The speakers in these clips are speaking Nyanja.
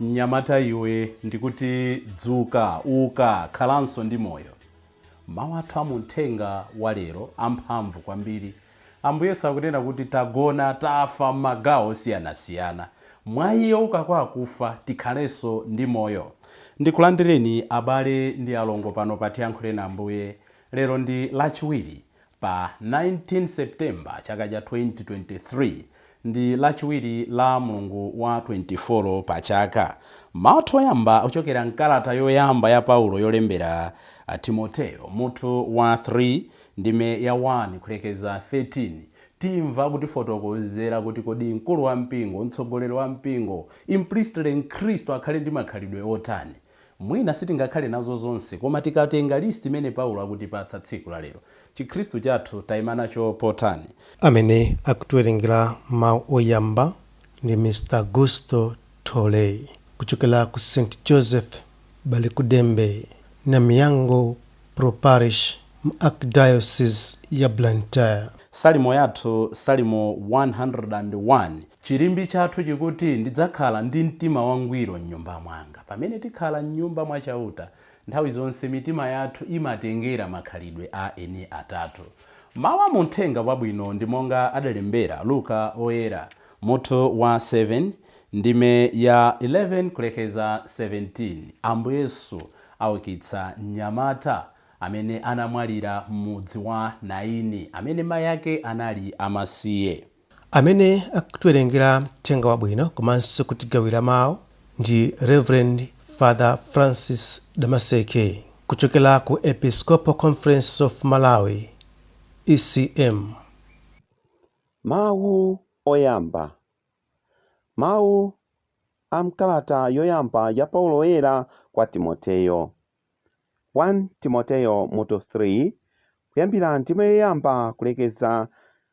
Mnyamata iwe, ndikuti dzuka, uka, khalanso ndi moyo. Mawu athu a mu uthenga wa lero amphamvu kwambiri. Ambuye akunena kuti tagona, tafa m'magawo osiyanasiyana. Mwa Iye ouka kwa akufa, tikhalenso ndi moyo. Ndikulandireni abale ndi alongo pano pa Tiyankhuleni Ambuye. Lero ndi Lachiwiri. Pa 19 September chaka cha 2023, ndi lachiwiri la mlungu wa 24 pa chaka. Mawu athu oyamba ochokera mkalata yoyamba ya Paulo yolembera a Timoteo, mutu wa 3, ndime ya 1 kulekeza 13, timva akutifotokozera kuti kodi mkulu wa mpingo, mtsogoleri wa mpingo, implicitly mkhristu akhale ndi makhalidwe otani? Mwina sitingakhale nazo zonse, koma tikatenga list imene Paulo akutipatsa tsiku la lero, chikhristu chathu taima nacho potani? Amene akutiwerengera mawu oyamba ndi Mr Augusto Tolei kuchokera ku St Joseph Balikuddembe, Namiyango Pro Parish, m'Archdiocese ya Blantyre. Salimo yathu Salimo 101. Chirimbi chathu chikuti ndidzakhala ndi mtima wangwiro m'nyumba mwanga. Pamene tikhala m'nyumba mwa Chauta, nthawi zonse mitima yathu imatengera makhalidwe a eni Atate. Mau a mu Uthenga Wabwino ndi monga adalembera Luka Oyera, mutu wa 7. Ndime ya 11 kulekeza 17, Ambuye Yesu aukitsa mnyamata amene anamwalira m'mudzi wa Nayini amene mayi ake anali amasiye. Amene akutiwerengera mthenga wabwino komanso kutigawira mau ndi Rev Father Francis Damaseke kuchokera ku Episcopal Conference of Malawi, ECM. Mawu oyamba Mawu a m'kalata yoyamba ya Paulo Woyera kwa Timoteyo. 1 Timoteyo mutu 3, kuyambira ndime yoyamba kulekeza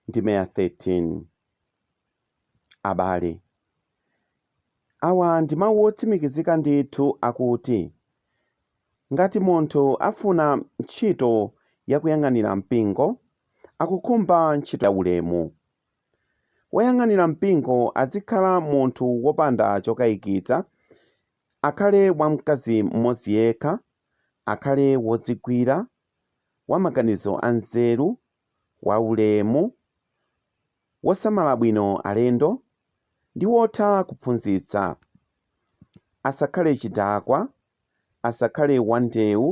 ndime ya 13. Abale, awa ndi mawu otsimikizika ndithu akuti, Ngati munthu afuna ntchito yakuyang'anira mpingo, akukhumba ntchito yaulemu. Woyang'anira mpingo adzikhala munthu wopanda chokaikitsa, akhale wa mkazi mmodzi yekha, akhale wodzigwira, wa maganizo anzeru, waulemu, wosamala bwino alendo, ndi wotha kuphunzitsa. Asakhale chidakwa, asakhale wandewu,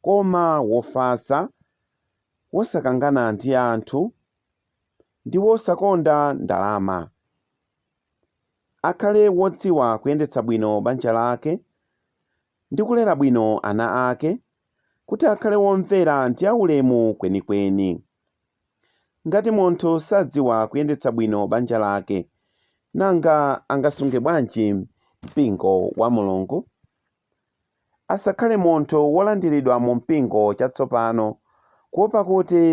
koma wofatsa, wosakangana ndi anthu. ndi wosakonda ndalama. Akhale wodziwa kuyendetsa bwino banja lake ndi kulera bwino ana ake kuti akhale womvera ndi aulemu kwenikweni. Ngati munthu sadziwa kuyendetsa bwino banja lake, nanga angasunge bwanji mpingo wa Mulungu? Asakhale munthu wolandiridwa mu mpingo chatsopano, kuwopa kuti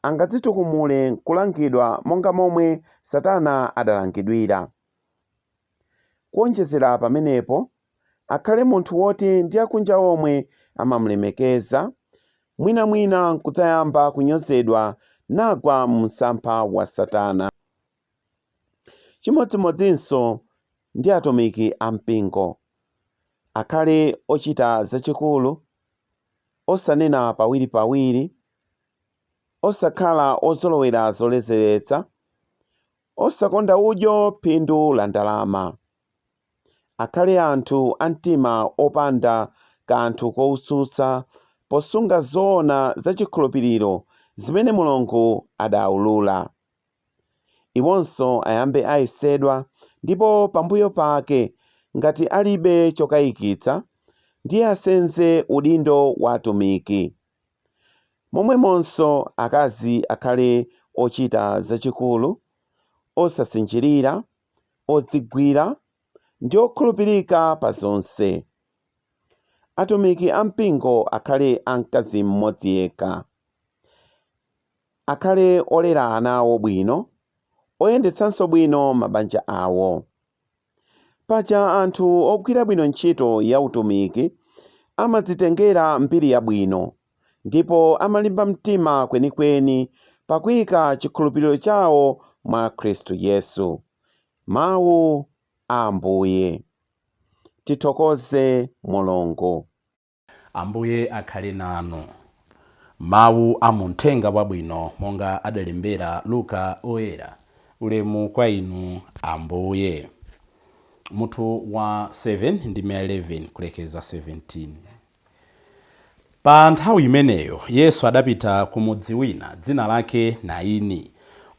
angadzitukumule n'kulangidwa monga momwe Satana adalangidwira. Kuwonjezera pamenepo, akhale munthu woti ndi akunja omwe amamulemekeza, mwinamwina n'kudzayamba kunyozedwa nagwa mu msampha wa Satana. Chimodzimodzinso ndi atumiki a mpingo. Akhale ochita zachikulu, osanena pawiripawiri, osakhala ozolowera zoledzeretsa, osakonda udyo phindu la ndalama. Akhale anthu a mtima wopanda kanthu koutsutsa posunga zoona za chikhulupiriro zimene Mulungu adaulula. Iwonso ayambe ayesedwa, ndipo pambuyo pake, ngati alibe chokayikitsa, ndiye asenze udindo wa atumiki. Momwemonso, akazi akhale ochita zachikulu, osasinjirira, odzigwira, ndi okhulupirika pa zonse. Atumiki a mpingo akhale a mkazi mmodzi yekha. Akhale olera ana awo bwino, oyendetsanso bwino mabanja awo. Paja anthu ogwira bwino ntchito ya utumiki amadzitengera mbiri yabwino ndipo amalimba mtima kwenikweni pakuika chikhulupiriro chawo mwa Khristu Yesu. Mawu a Ambuye. Tithokoze Mulungu. Ambuye akhale nanu. Mawu a mu Mthenga Wabwino monga adalembera Luka Woyera. Ulemu kwa Inu, Ambuye. Mutu wa 7 ndime ya 11 kulekeza 17. Pa nthawi imeneyo Yesu adapita ku mudzi wina dzina lake Nayini.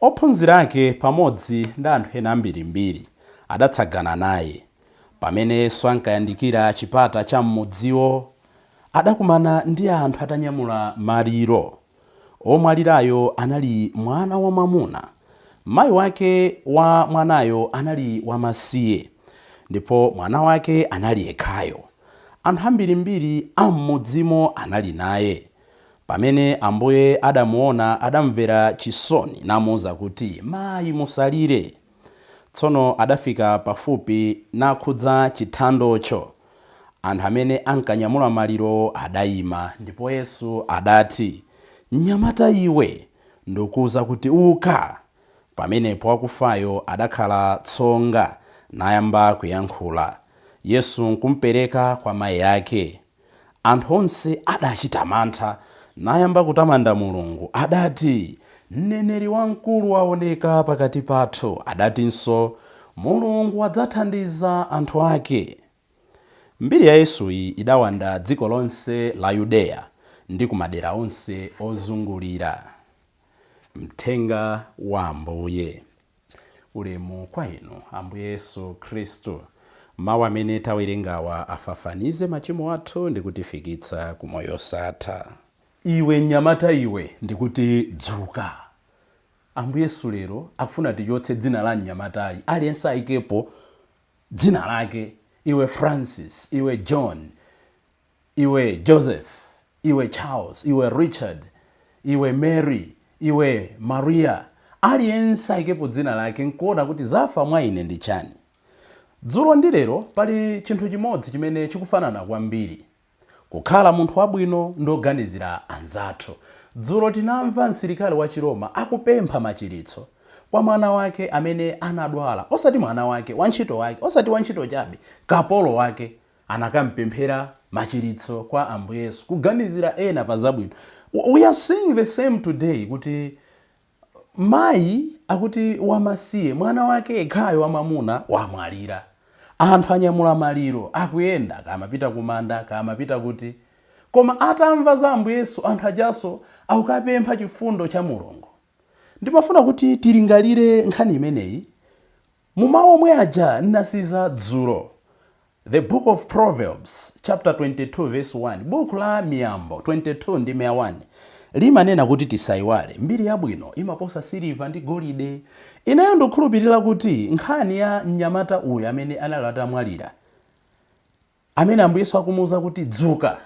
Ophunzira ake pamodzi ndi anthu ena ambirimbiri adatsagana naye. Pamene Yesu ankayandikira chipata cha m'mudziwo, adakumana ndi anthu atanyamula maliro. Omwalirayo anali mwana wamwamuna. Mai wake wa mwanayo anali wamasiye, ndipo mwana wake anali yekhayo. Anthu ambirimbiri a m'mudzimo anali naye. Pamene Ambuye adamuwona, adamumvera chisoni, namuuza kuti, Mai, musalire. Tsono adafika pafupi nakhudza chithandocho. Anthu amene ankanyamula malirowo adaima, ndipo Yesu adati, Mnyamata iwe, ndikuuza kuti, uka! Pamenepo wakufayo adakhala tsonga, nayamba kuyankhula. Yesu nkumpereka kwa mai ake. Anthu onse adachita mantha, nayamba kutamanda Mulungu. Adati, Mneneri wamkulu waoneka pakati pathu. Adatinso, Mulungu wadzathandiza anthu ake. Mbiri ya Yesuyi idawanda dziko lonse la Yudeya ndi ku madera onse ozungulira. Mthenga wa Ambuye. Ulemu kwa Inu, Ambuye Yesu Khristu. Mau amene tawerengawa afafanize machimo athu ndi kutifikitsa ku moyo osatha. Iwe mnyamata iwe, ndikuti dzuka! Ambuye Yesu lero akufuna tichotse dzina la mnyamatayu, aliyense ayikepo dzina lake. Iwe Francis, iwe John, iwe Joseph, iwe Charles, iwe Richard, iwe Mary, iwe Maria, aliyense ayikepo dzina lake nkuona kuti zafa mwa ine ndi chani. Dzulo ndi lero pali chinthu chimodzi chimene chikufanana kwambiri, kukhala munthu wabwino ndi woganizira anzathu. Dzulo tinamva msilikali wa Chiroma akupempha machiritso kwa mwana wake amene anadwala, osati mwana wake, wantchito wake, osati wantchito chabe, kapolo wake. anakamupemphera machiritso kwa Ambuye Yesu, kuganizira ena pa zabwino. We are seeing the same today kuti mayi akuti wamasiye mwana wake yekhayo wamwamuna wamwalira, anthu anyamula maliro akuyenda, kaya amapita kumanda, kaya amapita kuti, koma atamva za Ambuye Yesu anthu ajanso akukapempha chifundo cha Mulungu. Ndimafuna kuti tilingalire nkhani imeneyi Mu mau omwe aja nnasiza dzulo, The Book of Proverbs chapter 22 verse 1 Buku la Miyambo 22 ndime ya 1 limanena kuti tisaiwale, mbiri yabwino imaposa siliva ndi golide. Ineyo ndukhulupirira kuti nkhani ya mnyamata uyu amene anali atamwalira, amene Ambuye Yesu akumuuza kuti dzuka,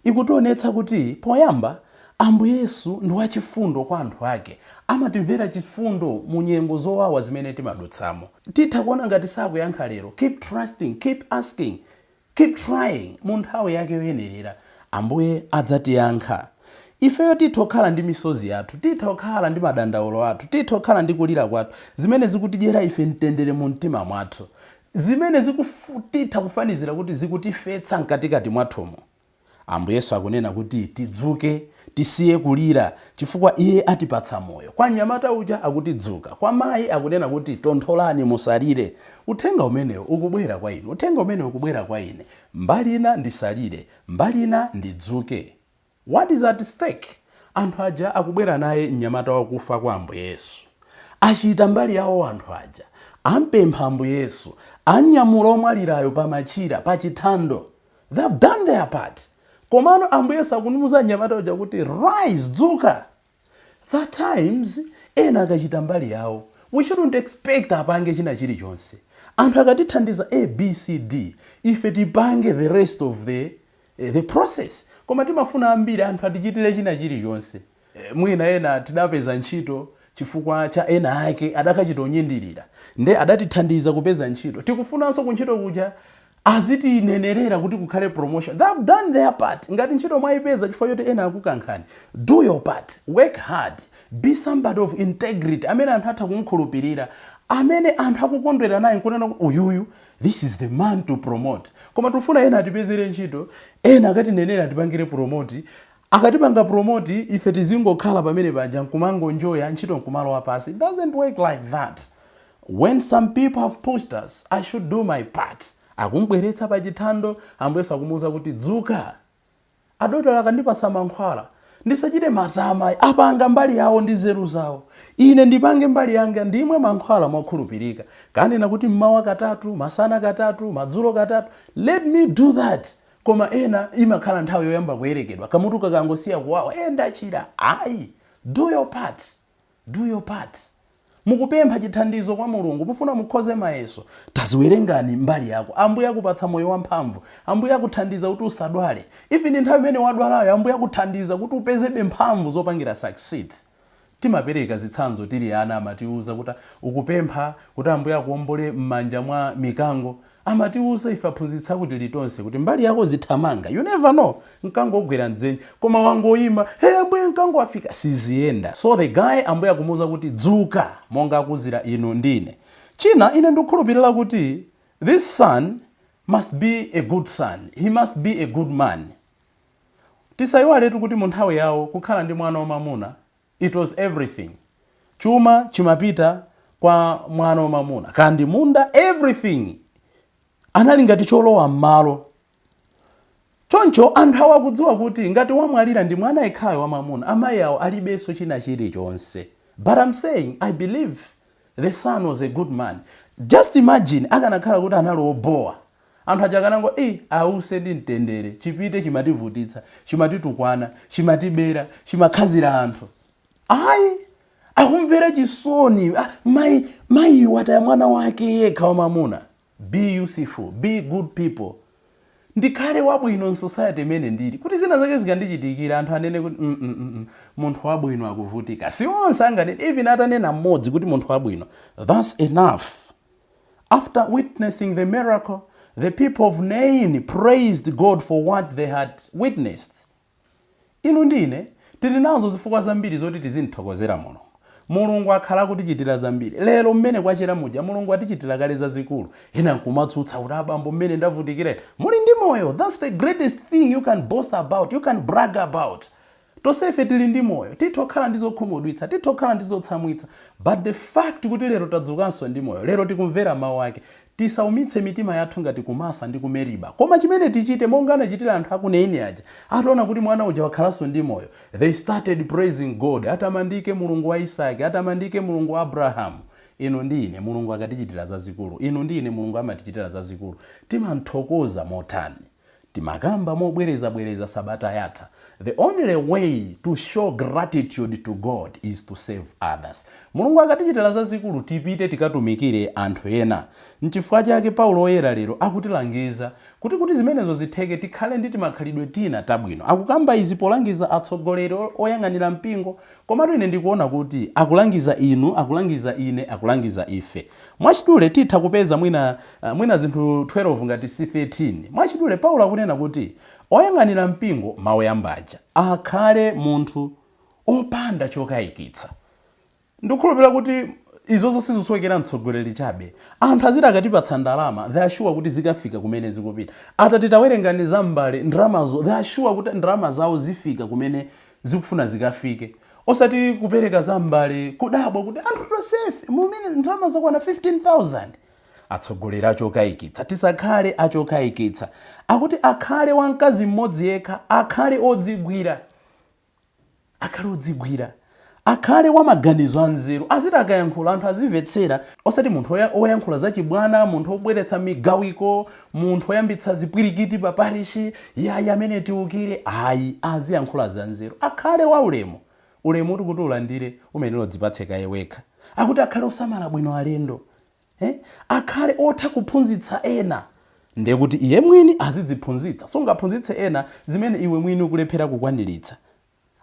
ikutionetsa kuti poyamba Ambuye Yesu ndi wachifundo kwa anthu ake. Amatimvera chifundo mu nyengo zowawa zimene timadutsamo. Titha kuona ngati sakuyankha lero, keep trusting, keep asking, keep trying, mu nthawi yake yoyenerera Ambuye adzatiyankha. Ifeyo titha kukhala ndi misozi yathu, titha kukhala ndi madandaulo athu, titha kukhala ndi kulira kwathu, zimene zikutidyera ife mtendere mu mtima mwathu. zimene zi titha kufanizira kuti zikutifetsa mkatikati mwathumo. Ambuye Yesu akunena kuti tidzuke, tisiye kulira, chifukwa Iye atipatsa moyo. Kwa mnyamata uja akuti dzuka. Kwa mayi akunena kuti tontholani musalire. Uthenga umenewu ukubwera kwa inu. Uthenga umenewu ukubwera kwa ine. Mbali ina ndisalire, mbali ina ndidzuke. What is at stake? Anthu aja akubwera naye mnyamata wakufa kwa Ambuye Yesu. Achita mbali yawo anthu aja. Ampempha Ambuye Yesu. Amnyamula omwalirayo pa machira, pa chithando. They have done their part. Komano Ambuye Yesu akumuuza mnyamata uja kuti, Rise! Dzuka! At times ena akachita mbali yawo we shouldn't expect apange china chilichonse. Anthu akatithandiza A B C D ife tipange the rest of the the process koma timafuna ambiri anthu atichitire china chilichonse. Mwina ena tidapeza ntchito chifukwa cha ena ake adakachita kuyendera nde adatithandiza kupeza ntchito tikufunanso kuntchito kuja azitinenerera kuti kukhale promotion they have done their part ngati ntchito mwaipeza chifukwa choti ena akukankhani do your part work hard be somebody of integrity amene anthu atha kumkhulupirira amene anthu akukondwera naye nkunena kuti uyuyu this is the man to promote koma tifuna ena atipezere ntchito ena akatinenere atipangire promote akatipanga promote ife tizingokhala pamene paja nkumangonjoya ntchito nkumalowa pansi it doesn't work like that When some people have pushed us, I should do my part. Akumubweretsa pa chithando, Ambuye Yesu akumuuza kuti dzuka. Adotolo akandipatsa mankhwala, ndisachite matama ayi. Apanga mbali yawo ndi nzeru zawo. Ine ndipange mbali yanga ndimwe mankhwala mokhulupirika. Akanena kuti mmawa katatu, masana katatu, madzulo katatu. Let me do that. Koma ena imakhala nthawi yoyamba kuyerekedwa. Kamutu kakangosiya kuwawa, eh ndachira. Ayi. Do your part. Do your part. Mukupempha chithandizo kwa Mulungu. Mufuna mukhoze mayeso. Taziwerengani mbali yako. Ambuye akupatsa moyo wamphamvu. Ambuye akuthandiza kuti usadwale. Even nthawi imene wadwalayo, Ambuye akuthandiza kuti upezebe mphamvu zopangira succeed. Timapereka zitsanzo tili ana amatiuza kuti ukupempha kuti Ambuye akuombole m'manja mwa mikango. Amatiuza ife aphunzitsi akuti litonse kuti mbali yako zithamanga you never know mkango ugwera m'dzenje koma wangoima hey ambuye mkango wafika siziyenda so the guy ambuye akumuuza kuti dzuka monga akuuzira inu ndi ine. China ine ndikukhulupilira kuti this son must be a good son, he must be a good man. Tisaiwaletu kuti munthawi yawo kukhala ndi mwana wamamuna It was everything. Chuma chimapita kwa mwana wa mamuna. Kaya ndi munda, everything. Anali ngati cholowa mmalo. Choncho anthu awa akudziwa kuti ngati wamwalira ndi mwana yekhayo wa mamuna, amayi awo alibenso china chilichonse. But I'm saying, I believe the son was a good man. Just imagine akanakhala kuti anali obowa, Anthu aja akanangoti, Iii ause ndi mtendere, chipite chimativutitsa, chimatitukwana, chimatibera, chimakhazira anthu. Ayi! Akumvera chisoni, mayi wataya mwana wake yekha wamamuna. Be useful, be good people. Ndikhale wabwino m'society imene ndili, kuti zina zake zikandichitikira anthu anene kuti, mm, mm, mm, mm, munthu wabwino akuvutika. Si onse anganene, even atanena mmodzi kuti munthu wabwino, that's enough. After witnessing the miracle, the people of Nain praised God for what they had witnessed. Inu ndi ine tili nazo zifukwa zambiri zoti tizimthokozera Mulungu. Mulungu akhala akutichitira zambiri. Lero mmene kwachera muja Mulungu atichitira kale zazikulu. Ena nkumatsutsa kuti abambo mmene ndavutikira ine. Muli ndi moyo. That's the greatest thing you can boast about, you can brag about. Tonsefe tili ndi moyo. Titha kukhala ndi zokhumudwitsa. Titha kukhala ndi zotsamwitsa. But the fact kuti lero tadzukanso ndi moyo, lero tikumvera mau ake, tisaumitse mitima yathu ngati ku Masa ndi ku Meriba. Koma chimene tichite, monga anachitira anthu a ku Naini aja, ataona kuti mwana uja wakhalanso ndi moyo, they started praising God, Atamandike Mulungu wa Isaki! Atamandike Mulungu wa Abrahamu! Inu ndi ine, Mulungu akatichitira zazikulu, inu ndi ine Mulungu amatichitira zazikulu, timamthokoza motani? timakamba mobwereza bwereza sabata yatha the only way to show gratitude to God is to serve others mulungu akatichitira zazikulu tipite tikatumikire anthu ena nchifukwa chake paulo oyera lero akutilangiza kuti kuti zimenezo zitheke tikhale ndi timakhalidwe tina tabwino akukamba izi polangiza atsogoleri oyang'anira mpingo komatu ine ndikuona kuti akulangiza inu akulangiza ine akulangiza ife Mwachidule, titha kupeza mwina zinthu 12 ngati si 13. Mwachidule, Paulo akunena kuti oyang'anira mpingo, mawu oyamba aja, akhale munthu opanda chokaikitsa. Ndikukhulupilira kuti izozo sizusowekera mtsogoleri chabe. Anthu aziti akatipatsa ndalama, they are sure kuti zikafika kumene zikupita. Atati tawerengani za mbale, ndalamazo, they are sure kuti ndalama zawo zifika kumene zikufuna zikafike osati kupereka za m'mbale kudabwa kuti anthu tonsefe mumene ndalama zakwana 15000 atsogoleri achokayikitsa tisakhale achokayikitsa akuti akhale wa mkazi mmodzi yekha akhale odzigwira akhale odzigwira akhale wa maganizo anzeru aziti akayankhula anthu azimvetsera osati munthu oya- oyankhula zachibwana munthu obweretsa migawiko munthu oyambitsa zipwirikiti pa parishi yayi amene tiukire ayi aziyankhula zanzeru akhale wa ulemu ulemu uti kuti ulandire umayenera udzipatse kaye wekha akuti akhale osamala bwino alendo eh? akhale otha kuphunzitsa ena ndiye kuti iye mwini azidziphunzitsa sungaphunzitse ena zimene iwe mwini ukulephera kukwaniritsa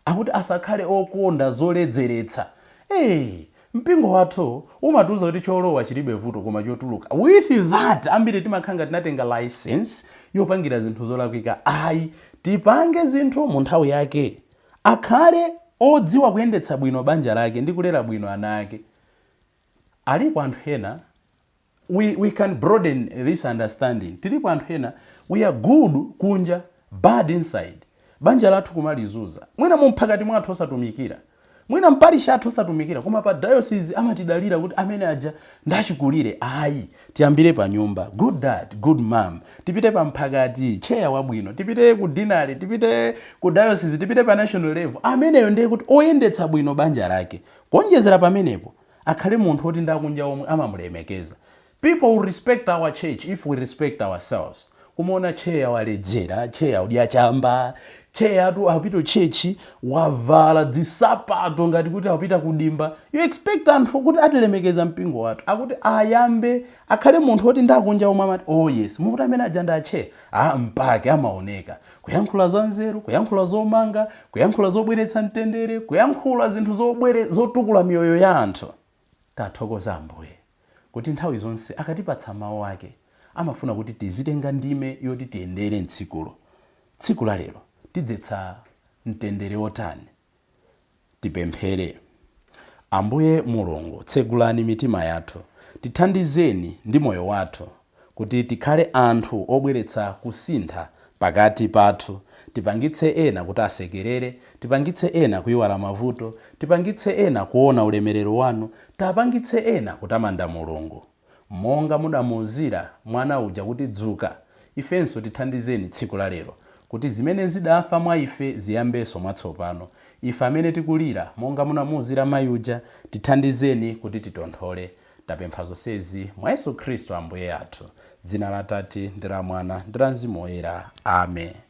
akuti asakhale okonda zoledzeretsa eeh mpingo wathu umatiuza kuti cholowa chilibe vuto koma chotuluka with that ambiri timakhala ngati tinatenga licence yopangira zinthu zolakwika ayi tipange zinthu mu nthawi yake akhale odziwa kuyendetsa bwino banja lake ndi kulera bwino ana ake alipo anthu ena we we can broaden this understanding tilipo anthu ena we are good kunja bad inside banja lathu kumalizuza mwina mumphakati mwathu osatumikira mwina m'parish mwathu osatumikira koma pa diocese amatidalira kuti amene aja ndachikulire ayi tiyambire pa nyumba good dad good mom tipite pa mphakati chair wabwino tipite ku dinari tipite ku diocese tipite pa national level ameneyo ndiye kuti oyendetsa bwino banja lake kuonjezera pamenepo akhale munthu oti ndi akunja omwe amamulemekeza. People will respect our church if we respect ourselves. Kumaona tcheya waledzera, tcheya akudya chamba, tcheya akupita ku church wavala dzisapato ngati kuti akupita ku dimba. You expect anthu kuti atilemekeza mpingo wathu. Akuti ayambe akhale munthu oti ndi akunja omwe amati oh yes, mukuti amene aja ndi atcheya? Ah, mpake amaoneka. Kuyankhula za nzeru, kuyankhula zomanga, kuyankhula zobweretsa mtendere, kuyankhula zinthu zobwere, zotukula miyoyo ya anthu. Tathokoza Ambuye kuti nthawi zonse akatipatsa mawu ake, amafuna kuti tizitenga ndime yoti tiyendere m'tsikulo. Tsiku la lero, tidzetsa mtendere wotani? Tipemphere. Ambuye Mulungu, tsegulani mitima yathu, tithandizeni ndi moyo wathu kuti tikhale anthu obweretsa kusintha pakati pathu, tipangitse ena kuti asekerere, tipangitse ena kuiwala mavuto, tipangitse ena kuona ulemerero wanu, tapangitse ena kutamanda Mulungu. Monga mudamuuzira mwana uja kuti dzuka, ifenso tithandizeni tsiku la lero, kuti zimene zidafa mwa ife ziyambenso mwatsopano. Ife amene tikulira, monga munamuuzira mayi uja, tithandizeni kuti titonthole. Tapempha zonsezi mwa Yesu Khristu Ambuye athu. Dzina la Atate, ndi la Mwana, ndi la Mzimu Woyera. Amen.